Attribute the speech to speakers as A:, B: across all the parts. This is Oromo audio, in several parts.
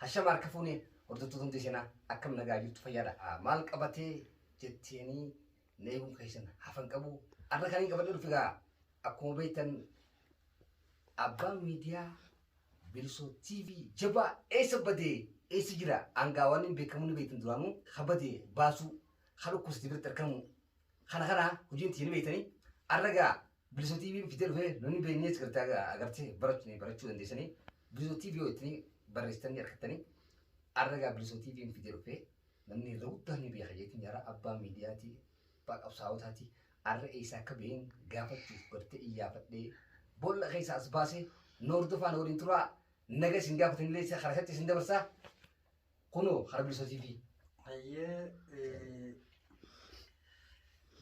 A: Hashama harka fuunee hordoftoota hundi seenaa akkam nagaa jirtu fayyaadha. Maal qabatee jetteenii na eeguun keessan hafan qabu. Har'a kan hin qabadne dhufi gaa akkuma beektan abbaan miidiyaa Bilisoo TV jabaa eessa badee eessa jira hangaa waan hin beekamu ni beektan duraanuu ha badee baasuu ha dhukkubsate biratti argamu kana kana hojiin itti ni beektanii har'a gaa Biliso TV fidee dhufee namni beeknee asirratti agartee barachuu barachuu dandeessanii Biliso TV yoo itti barreessitanii argattanii arragaa Biliso TV fidee dhufee namni irra guddaa ni beeka jeetiin jara abbaa miidiyaatii abbaa qabsaa'otaatii arra eessaa akka ba'een gaafachuuf bartee iyyaafadhee boolla keessa as baasee noordofaan waliin turaa naga isin gaafatanillee isa karaa isatti isin dabarsaa Kunoo harbi satiifi. Hayyee eh,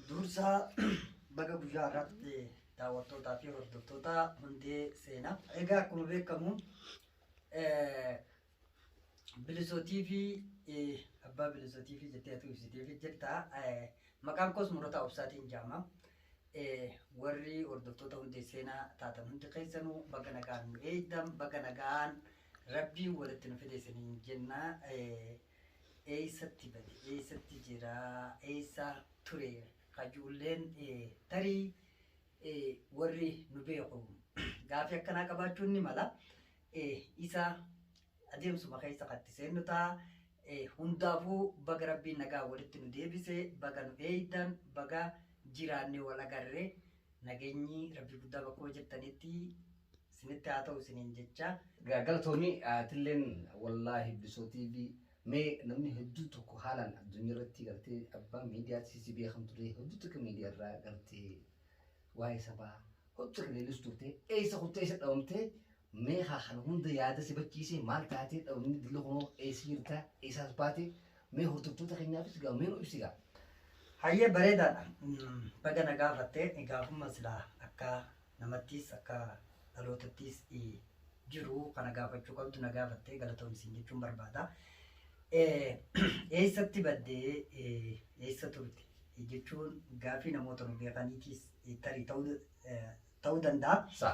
B: dursa baga guyyaa irratti daawwattootaa fi hordoftoota hundee seenaa. Egaa akkuma beekamu eh, bilisoo TV eh, abbaa bilisoo TV jettee atuu ibsiteef jirta. Eh, Maqaan koos murata obsaatiin jaama. Eh, Warri hordoftoota hundee seenaa taatan hundi keessanuu baga nagaan nu eegdan baga nagaan Rabbiin walitti nu fide isiniin jenna. Eessatti bade? Eessatti jira? Eessa ture? Kajuulleen tarii warri nu beeku gaafii akkanaa qabaachuun ni mala. Isa adeemsuma keessa katti seennu ta'a. Hundaafuu baga rabbiin nagaa walitti nu deebise baga nu eeydan baga jiraanne wal agarre nageenyi rabbii guddaa bakkuma jirtanitti Isinitti haa ta'u isiniin jechaa. Galatoomi
A: atilleen wallaahi Bilisoo TV mee namni hedduu tokko haalaan addunyaa irratti gartee abbaa miidiyaatti si beekan ture hedduu tokko miidiyaa irraa gartee waa'ee sabaa hedduu tokko leellis turte eessa kuttee eessa dhabamte mee haa kana hunda yaada si bachiisee maal taatee dhabamni dilli kunoo eessa jirta eessaas baate mee hordoftoota keenyaafis gaa mee nu ibsi gaa. Hayyee
B: bareedaadha. Baga na gaafatte gaafuma silaa akka namattiis akka dhalootattiis jiru kana gaafachuu qabdu na gaafatte galatoomi siin jechuun barbaada. Eessatti badde eessa turte jechuun gaafii namoota nu beekaniitiis tarii ta'uu danda'a.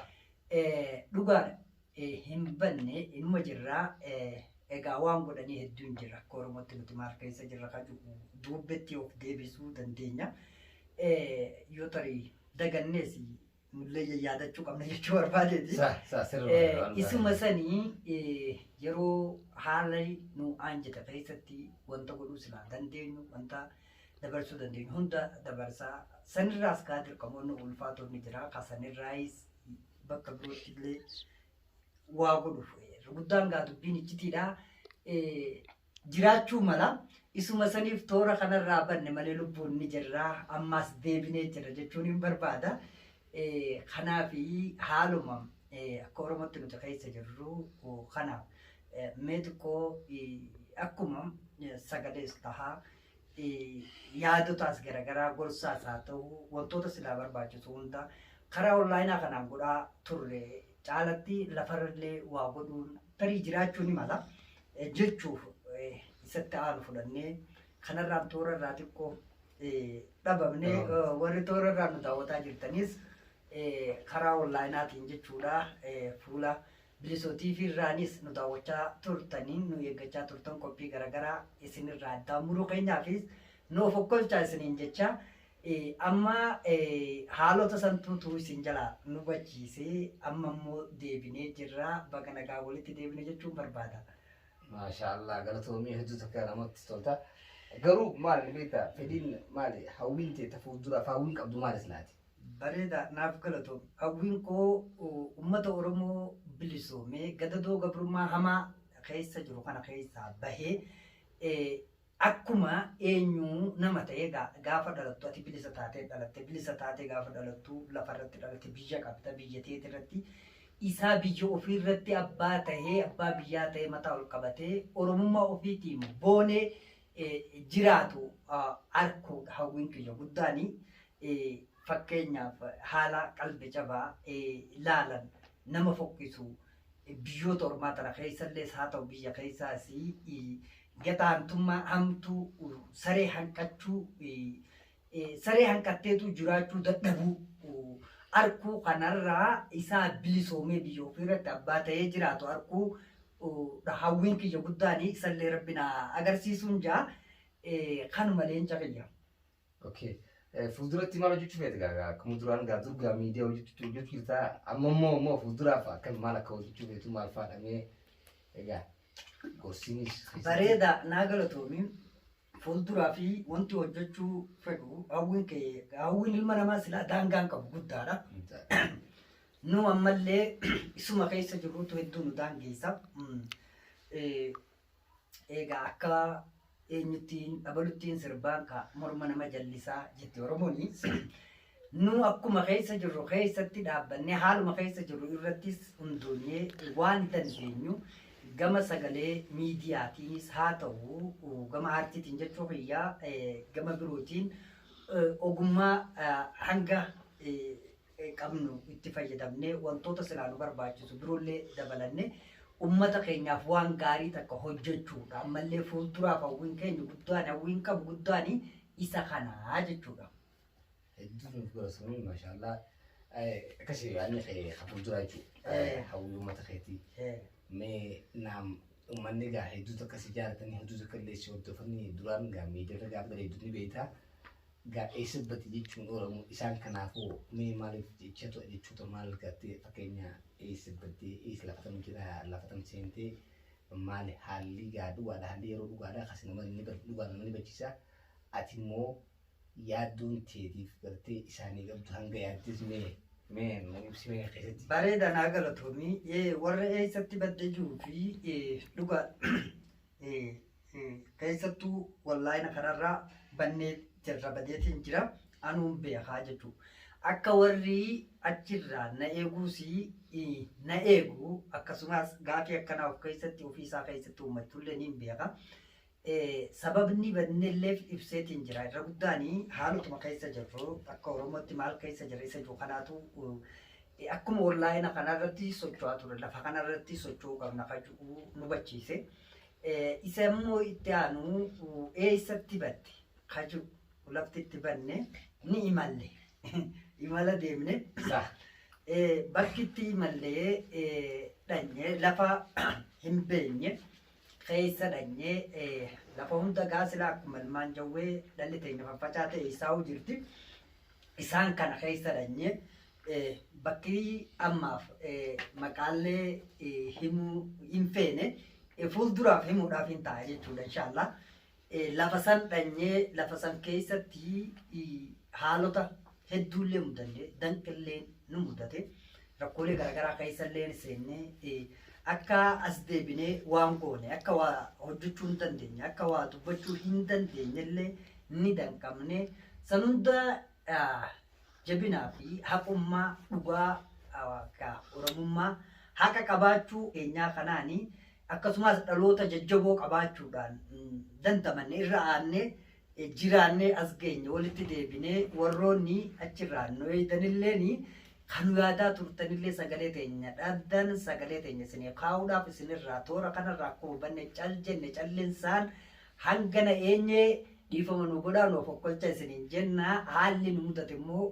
B: Dhugaadha. hin banne inuma jirra. Egaa waan godhanii hedduun jira. Akka Oromootti nuti maal keessa jirra kan jedhu duubbetti of deebisuu dandeenya. Yoo tarii dagannees nullee yaadachuu qabna jechuu barbaadeeti. Sa sa sirri Eh, waan baay'ee. isuma sanii eh, yeroo haala nu aanjate keessatti wanta godhuu silaa dandeenyu wanta dabarsuu dandeenyu hunda dabarsaa sanirraas kaa dirqamoonni ulfaatoonni jira ka sanirraayis bakka birootti illee waa godhuuf guddaan gaa dubbiin iccitiidha. Jiraachuu mala isuma saniif toora kanarraa banne malee lubbuun ni jirra ammaas deebinee jirra jechuun hin barbaada. Kanaaf haaluma akka Oromootti nuti keessa jirru kanaaf mee xiqqoo akkuma sagalees tahaa. yaadotaas garagaraa gorsaas haa ta'u wantoota silaa barbaachisu hunda karaa onlaayinaa kanaan godhaa turre caalatti lafarrallee waa godhuun tarii jiraachuu ni mala eh, jechuuf eh, isatti aanu fudhannee kanarraan toora irraa xiqqoo eh, dhabamne eh, warri toora irraa nu daawwataa jirtanis eh, karaa onlaayinaatiin jechuudha eh, fuula Bilisoo TV irraanis nu daawwachaa turtanii nu eeggachaa turtan qophii garagaraa isinirraa addaan muruu keenyaafis nu of okkolchaa isiniin jechaa amma haalota santuutu isin jala nu hubachiise amma immoo deebinee jirra baga nagaa walitti deebine jechuun barbaada. Maashaallah
A: galatoomii hedduu takka namatti tolta. Garuu maal ni beektaa fedhiin maali hawwiin tee ta fuulduraaf hawwiin qabdu maal islaati? Bareeda naaf
B: galatoom. Hawwiin koo ummata Oromoo bilisoomee gadadoo gabrummaa hamaa keessa jiru kana keessaa bahee akkuma eenyuu nama ta'ee gaafa dhalattu ati bilisa taatee dhalatte bilisa taatee gaafa dhalattu lafa irratti dhalatte biyya qabda biyya teeti irratti isaa biyya ofii irratti abbaa ta'ee abbaa biyyaa ta'ee mataa ol qabatee oromummaa ofiitiin boonee jiraatu arkuudha hawwiin kiyya guddaan fakkeenyaaf haala qalbi cabaa laalan nama fokkisu biyyoota ormaa tana keessallees haa ta'u biyya keessaas gataantummaa hamtuu saree hanqachuu saree hanqatteetu jiraachuu dadhabuu arkuu kanarraa isaa bilisoomee biyya ofiirratti abbaa ta'ee jiraatu arkuu hawwiin kiyya guddaan isallee rabbi na agarsiisuun jaa kanuma leenca kiyya. Okay.
A: Fuulduratti maal hojjechuu feete gaa akkuma duraan gaa dur gaa miidiyaa hojjechuu hojjechuu jirta amma immoo immoo fuulduraaf akka maal akka hojjechuu feetu maal faadhamee egaa gorsiinis. Bareeda
B: naa galatoomi. Fuulduraa fi wanti hojjechuu fedhu hawwiin kee hawwiin ilma namaa silaa daangaa hin qabu guddaadha. Nu ammallee isuma keessa jirrutu hedduu nu daangeessa. Mm. Eh, Egaa akka eenyuttiin dhabaluttiin sirbaan ka morma nama jallisaa jetti Oromooni. Nuu akkuma keessa jirru keessatti dhaabbannee haaluma keessa jirru irrattis hundoonyee waan dandeenyu gama sagalee miidiyaatiinis haa ta'u gama aartiitiin jechuu kiyya gama birootiin ogummaa hanga qabnu itti fayyadamnee wantoota silaa nu barbaachisu biroollee dabalanne ummata keenyaaf waan gaarii takka hojjechuudha. Ammallee fuulduraaf hawwiin keenya guddaan hawwiin qabu guddaan isa kanaa jechuudha. Hedduu
A: nuuf gorsuun mashallah. Akkasii yaadni kee hafuu jira jechuudha. Hawwii uummata keetii. Mee naam uummanni gaa hedduutu akka si jaalatanii hedduutu akka illee si hordofanii duraan gaa miidiyaarra gaafa gadi hedduutu ni beektaa. Gaa eessa bati jechuun Oromoo isaan kanaafuu mee maaliif jecha to'a jechuuta maal gattee fakkeenya eessa battee eessa lafatam jira lafatam seentee maali haalli gaa dhugaadha haalli yeroo dhugaadha akkasii nama inni dhugaa nama ni bachiisa. Ati immoo yaaddoon teetiif gartee isaanii galtu hanga yaaddes mee mee nu ibsi mee keessatti. Bareeda naa galatoomii
B: ee warra eessatti badde jiru fi ee dhugaa ee ee keessattuu wallaayina kanarraa bannee jirra badeetiin jira anuun beekaa jechuu akka warri achirraa na eeguus ee, na eegu akkasumas gaafii akkanaa of keessatti ofii isaa keessatti uummachuullee niin beeka Sababni bannelleef ibseetiin jira. Irra guddaan haalotuma keessa jirru akka Oromootti maal keessa jirra isa jiru kanaatu akkuma onlaayina kanarratti socho'aa ture lafa kanarratti socho'uu qabna kan jedhu nu hubachiise. Isa immoo itti aanu eessatti batte kan jedhu lafti itti banne ni imalle. Imala deemne bakki itti imallee dhanye lafa hin beenye. keessa dhanyee lafa hunda gaa silaa akkuma ilmaan jawwee dhalli teenya faffacaa ta'e isaa'uu jirti. Isaan kana keessa dhanyee bakki ammaaf maqaallee himuu hin feene fuulduraaf himuudhaaf hin ta'a jechuudha inshaallah. Lafa san dhanyee lafa san keessatti haalota hedduullee mudanne danqillee nu mudate rakkoolee garaagaraa keessallee seennee akka as deebinee waan goone akka waa hojjechuu hin dandeenye akka waa dubbachuu hin dandeenyellee ni danqamne san hunda jabinaa fi haqummaa dhugaa ka Oromummaa haqa qabaachuu keenyaa kanaani akkasumaas dhaloota jajjaboo qabaachuudhaan dandamanne irra aannee jiraannee as geenye walitti deebinee warroonni achirraa nu eeydanilleeni kan nu yaadaa turtanillee sagalee teenya dhabdan sagalee teenya isinii kaa'uudhaaf isinirraa toora kanarraa akkuma banne cal jenne callinsaan Hanga na eenye dhiifama nu godhaa nu okokkolcha isiniin jenna haalli nu mudate immoo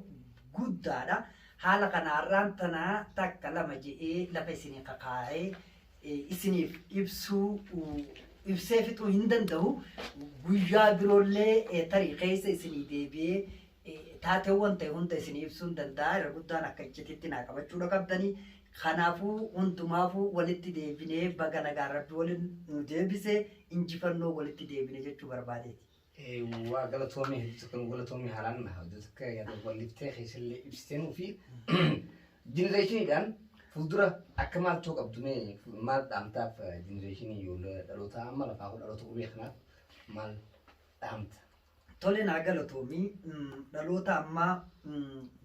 B: guddaadha haala kana har'aan tana takka lama je'ee lafa isinii kakaa'ee isiniif ibsuu ibsee fixuu hin danda'u guyyaa biroollee tarii keessa isinii deebi'ee Taateewwan ta'e hunda isinii ibsuun danda'a. Irra guddaan akka iccitiitti naa qabachuudha qabdanii. Kanaafuu hundumaafuu walitti deebinee baga nagaan rabbi waliin nu deebise injifannoo walitti deebine jechuu barbaadeeti. waa
A: galatoomii hedduu tokko nu galatoomii haalaan na hojii tokko yaada walliftee keessallee ibsitee nuu fi jenereeshiniidhaan fuuldura akka maal ta'uu qabdu mee maal dhaamtaaf jenereeshinii ijoollee dhalootaa amma lafaa kun dhaloota qubee kanaaf maal dhaamta? Tole naa
B: galatoomi dhaloota ammaa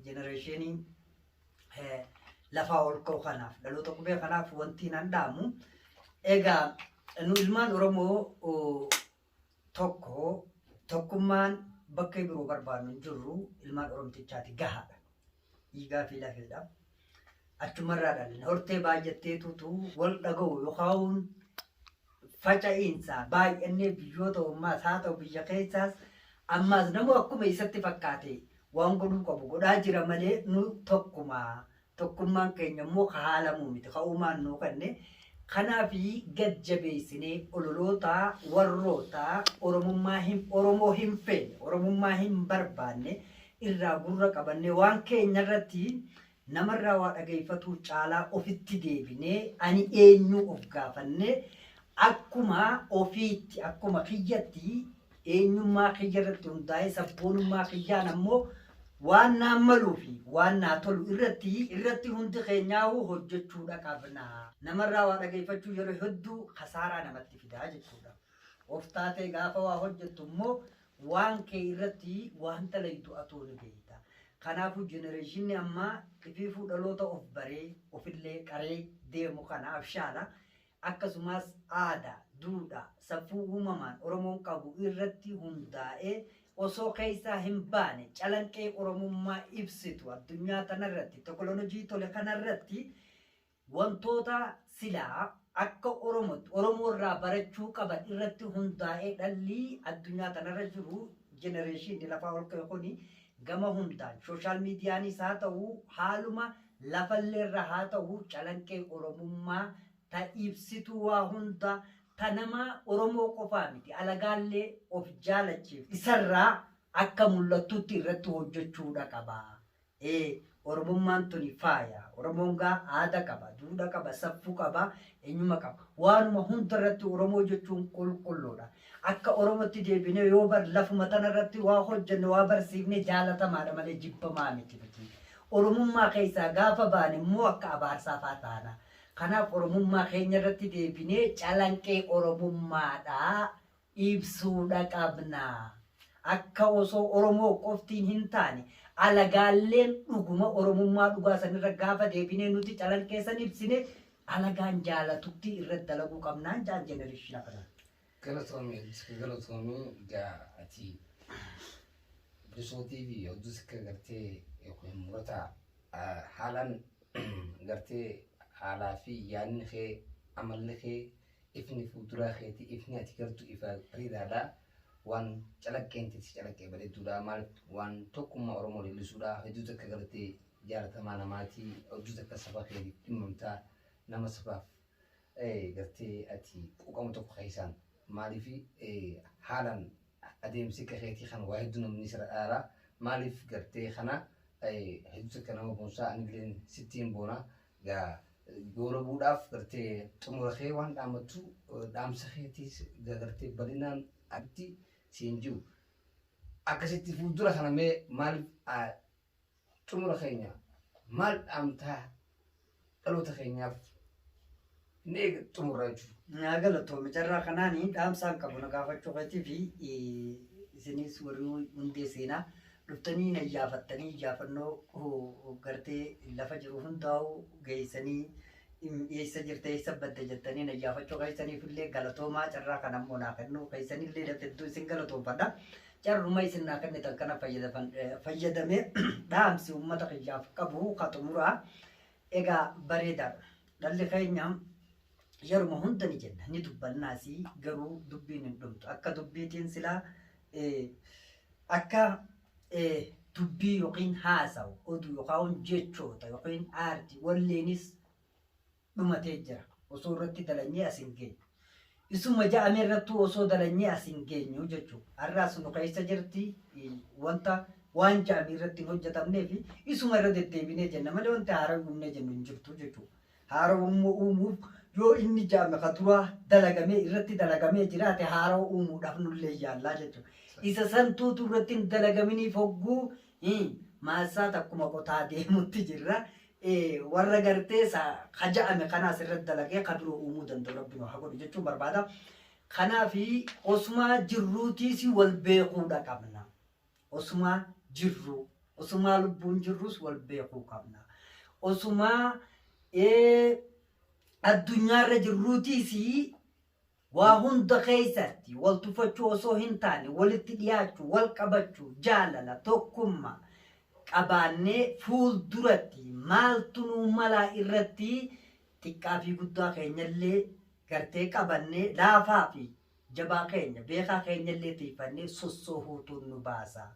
B: jenereeshinii lafaa ol ka'u kanaaf dhaloota qubee kanaaf wanti nan dhaamu egaa nu ilmaan Oromoo tokko tokkummaan bakka biroo barbaannu hin jirru ilmaan Oromtichaati gahaadha. Dhiigaa fi lafeedha. Achumarraa dhalinna hortee baay'atteetutu wal dhaga'u yookaan faca'iinsa baay'annee biyyoota ormaas haa ta'u biyya keessaas ammaas namuu akkuma isatti fakkaate waan godhuu qabu godhaa jira malee nu tokkuma. Tokkummaan keenya immoo ka haalamuu miti ka uumaan nuu kenne. Kanaaf gad jabeessinee ololoota warroota Oromummaa hin Oromoo hin feene Oromummaa hin barbaanne irraa gurra qabannee waan keenya irratti Namarraa waa dhagayfatuu caalaa ofitti deebinee ani eenyuu of gaafannee akkuma ofiitti, akkuma kiyyatti eenyummaa kiyyarratti hundaa'ee sabboonummaa kiyyaan ammoo waan naan maluu fi waan naa tolu irratti irratti hundi keenyaahuu hojjechuudha qabna. Namarraa waa dhagayfachuun yeroo hedduu kasaaraa namatti fida jechuudha. Of taatee gaafa waa hojjettu immoo Waan kee irratti waan dalaydu atuu ni beeyta. Kanaafuu jenereeshinni ammaa ifiifuu dhaloota of baree, ofillee qaree deemu kana abshaala akkasumaas aadaa, duudhaa, safuu uumamaan Oromoon qabu irratti hundaa'ee osoo keeysaa hin baane calanqee Oromummaa ibsitu addunyaa tanarratti tokolonojii tole kanarratti Wantoota silaa akka Oromootti Oromoo irraa barachuu qaban irratti hundaa'ee dhalli addunyaa tanarra jiru jenereeshiinni lafaa ol ka'e kuni gama hundaan sooshaal miidiyaanis haa ta'u haaluma lafalleerra haa ta'u calanqee Oromummaa ta ibsituu waa hunda ta nama Oromoo qofaa miti alagaallee of jaalachiiftu isarraa akka mul'attutti irratti hojjechuudha qaba. Ee oromummaan tuni faaya. Oromoon gaa aada qaba, duudha qaba, saffuu qaba, enyuma qaba. Waanuma hunda irratti Oromoo jechuun qulqulluudha. Akka Oromotti deebinee yoo bar lafuma tana irratti waa hojjenne waa barsiifne jaalatamaadha malee jibbamaa miti nuti. Oromummaa keessaa gaafa baane immoo akka abaarsaa faa taana. Kanaaf Oromummaa keenya irratti deebinee calanqee Oromummaadha ibsuudha qabna. Akka osoo Oromoo qoftiin hintaane alagaalleen dhuguma Oromummaa dhugaa sanirra gaafa deebinee nuti calanqeessan ibsine alagaan jaalatutti irratti dalaguu qabnaan jaan jenereshina kanaan. Galatoomi Odduska galatoomi
A: egaa ati bilisootii fi Odduska gartee yookiin murata haalaan gartee haalaa fi yaadni kee amalli kee Ifni fuulduraa keetii ifni ati gartu ifa bareedaadha. Waan calaqqeen tee si calaqqee bareedduudha. Maaliif waan tokkummaa Oromoo leellisuudha. Hedduu takka gartee jaalatamaa namaati. Hedduu takka saba keetiif dhimmamta. Nama sabaaf gartee ati quuqamu tokko keessaan. Maaliif haalaan adeemsi akka keetii kana waa hedduu namni sirra dhaala. Maaliif gartee kana hedduu takka nama boonsaa anilleen sittiin boona. Yaa goolabuudhaaf gartee xumura kee waan dhaamattu dhaamsa keetiis gartee bal'inaan atti siin jiru. Akkasitti fuuldura kana mee maal xumura keenya maal dhaamtaa dhaloota keenyaaf Inni eega xumurra jechuudha. Naa galatoomi carraa
B: kanaan dhaamsaan qabu na gaafachuu keetii fi isinis warri hundee seenaa dhuftanii na iyyaafattanii iyyaafannoo gartee lafa jiru hundaa'u geessanii eessa jirta eessa badda jettanii na iyyaafachuu keessaniif illee galatoomaa carraa kana immoo naa kennuu keessanillee hedduu isin galatoomfadha. Carruma isin naa kennitan kana fayyadamee dhaamsi uummata kiyyaaf qabu ka xumuraa Egaa bareedaadha. Dhalli keenya yeruma hunda ni jenna ni dubbannaas garuu dubbiin hin dhumtu. Akka dubbiitiin silaa akka dubbii yookiin haasawu oduu yookaan jechoota yookiin aartii walleenis dhumatee jira. Osoo irratti dalanyee as hin geenye. Isuma ja'ame irrattuu osoo dalanyee as hin geenyu jechu. Har'a as nu keessa jirti wanta waan ja'ame irratti hin hojjetamnee fi isuma irra deddeebinee jenna malee wanti haara uumnee jennu hin jirtu jechu. Haara uumuu uumuuf yoo inni ja'ame ka duraa dalagamee irratti dalagamee jiraate haara uumuudhaaf nullee yaallaa jechu. Isa santuutu irratti hin dalagaminiif hogguu Hii maassaa takkuma qotaa deemutti jirra. Eh, warra gartee sa ka ja'ame kana asirratti dalagee ka biroo uumuu danda'u rabbi nu haa godhu jechuun barbaada. Kanaaf osumaa jirruutiis wal beekuudha qabna. Osumaa jirruu, osumaa lubbuun jirruus wal beekuu qabna. Osumaa eh, addunyaarra jirruutiis Waa hunda keessatti wal tufachuu osoo hintaane walitti dhiyaachuu, wal qabachuu, jaalala, tokkummaa qabaannee fuulduratti maaltu nuu malaa irratti xiqqaafii guddaa keenyallee gartee qabannee laafaafi jabaa keenya, beekaa keenyallee tiiyfannee sossoohuutu nu baasa.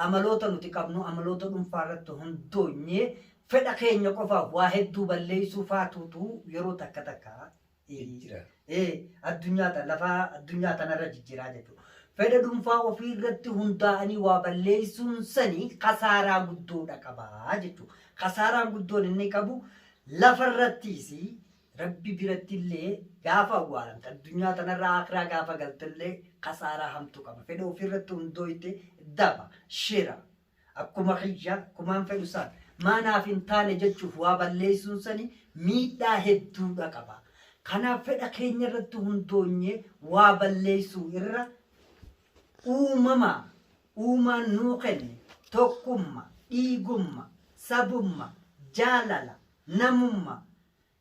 B: Amaloota nuti qabnu amaloota dhunfaa irratti hundoonyee fedha keenya qofaaf waa hedduu balleessuu faatuutu yeroo takka takka jijjira. Ee, addunyaa ta- lafa addunyaa tanarra jijjiraa jechuudha. Fedha dhuunfaa ofii irratti hundaa'anii waa balleessuun sanii kasaaraa guddoodha qabaa jechuudha. Kasaaraan guddoon inni qabu lafa irrattiis rabbi biratti illee gaafa awwaalamte addunyaa tanarra akiraa gaafa galte illee kasaaraa hamtuu qaba. Fedha ofii irratti hundooyte daba, shira, Akkuma kiyya, akkumaan fedhu Ustaaz. Maa naaf hin taane jechuuf waa balleessuun sani miidhaa hedduudha qaba. Kanaaf fedha keenya irratti hundoonyee waa balleessuu irra uumama uumaan nuu kenne tokkumma, dhiigumma, sabumma, jaalala, namumma,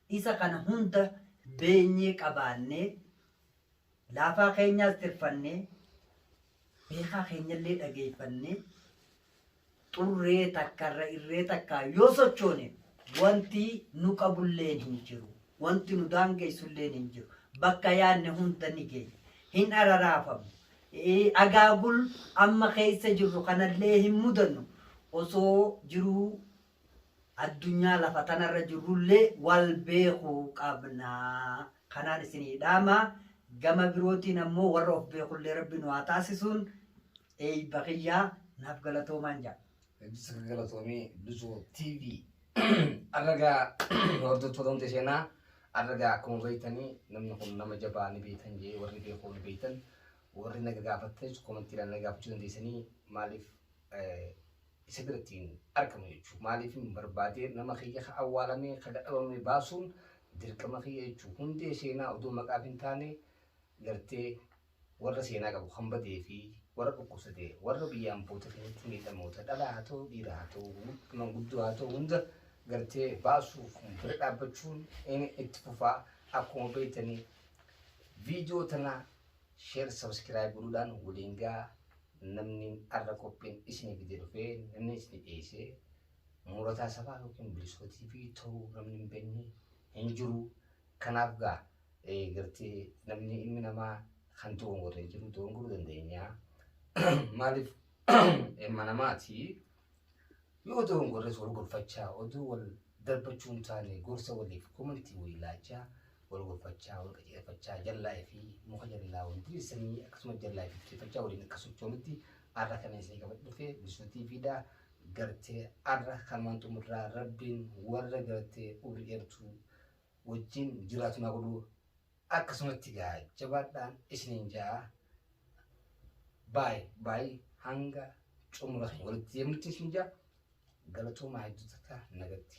B: Isa kana hunda beenyee qabaannee, laafaa keenyaas tirfannee, beekaa keenyallee dhageeffannee xurree takka irra irree takkaa yoo sochoone wanti nu qabulleen hin jiru. Wanti nu daangeessulleen hin jiru. Bakka yaadne hunda ni geenya. Hin araraafamu. Eh, Agaagul amma keessa jirru kanallee hin mudannu. Osoo jiruu addunyaa lafa tanarra jirrullee wal beeku qabna. Kanaan isinii dhaama. Gama birootiin ammoo warra of beekullee rabbi nu haa taasisuun eeyba kiyya naaf galatoomaan jedha. Hedduu sirrii galatoomii
A: Duzoo TV. Arragaa hordoftoota hundi seenaa arragaa akkuma beektanii namni kun nama jabaa ni beektan jee warri beekuu ni beektan warri naga gaafattanis komantiidhaan naga gaafachuu dandeessanii maaliif eh, isa biratti hin argamu jechuuf maaliifin barbaadee nama kiyya ka awwaalame ka dadhabame baasuun dirqama kiyya jechuuf hundee seenaa odoo maqaaf hin taane gartee warra seenaa qabu kan badee fi warra dhukkubsate warra biyya amboote keessatti miidhamoota dhalaa haa ta'u dhiira haa ta'u manguddoo haa ta'u hunda gartee baasuuf bira dhaabbachuun inni itti fufaa akkuma beektanii viidiyoo tana share subscribe godhuudhaan waliin gaa namni arra qophiin isinii gadi dhufee namni isinii dhiyeessee murataa sabaa yookiin bilisootii fi ta'uu namni hin beekne hin jiru kanaaf gaa gartee namni ilmi namaa kan doongore hin jiru doongoruu dandeenya maaliif ilma namaati. Yoo dogongorres wal gorfachaa oduu wal darbachuun taane gorsa waliif komantii walii laachaa wal gorfachaa wal qajeelfachaa jallaa fi muka jallaa wal diriirsanii akkasumas jallaa fi diriirfachaa waliin akka sochoonutti arra kana isinii qabadhe dhufe Bilisuu TV dha gartee arra kanumaan xumurraa rabbiin warra gartee umrii dheertuu wajjin jiraatu naa godhu akkasumatti gaa jabaadhaa isiniin ja'a baay baay hanga xumura keenya walitti deemutti isin ja'a galatoomaa hedduutata nagatti.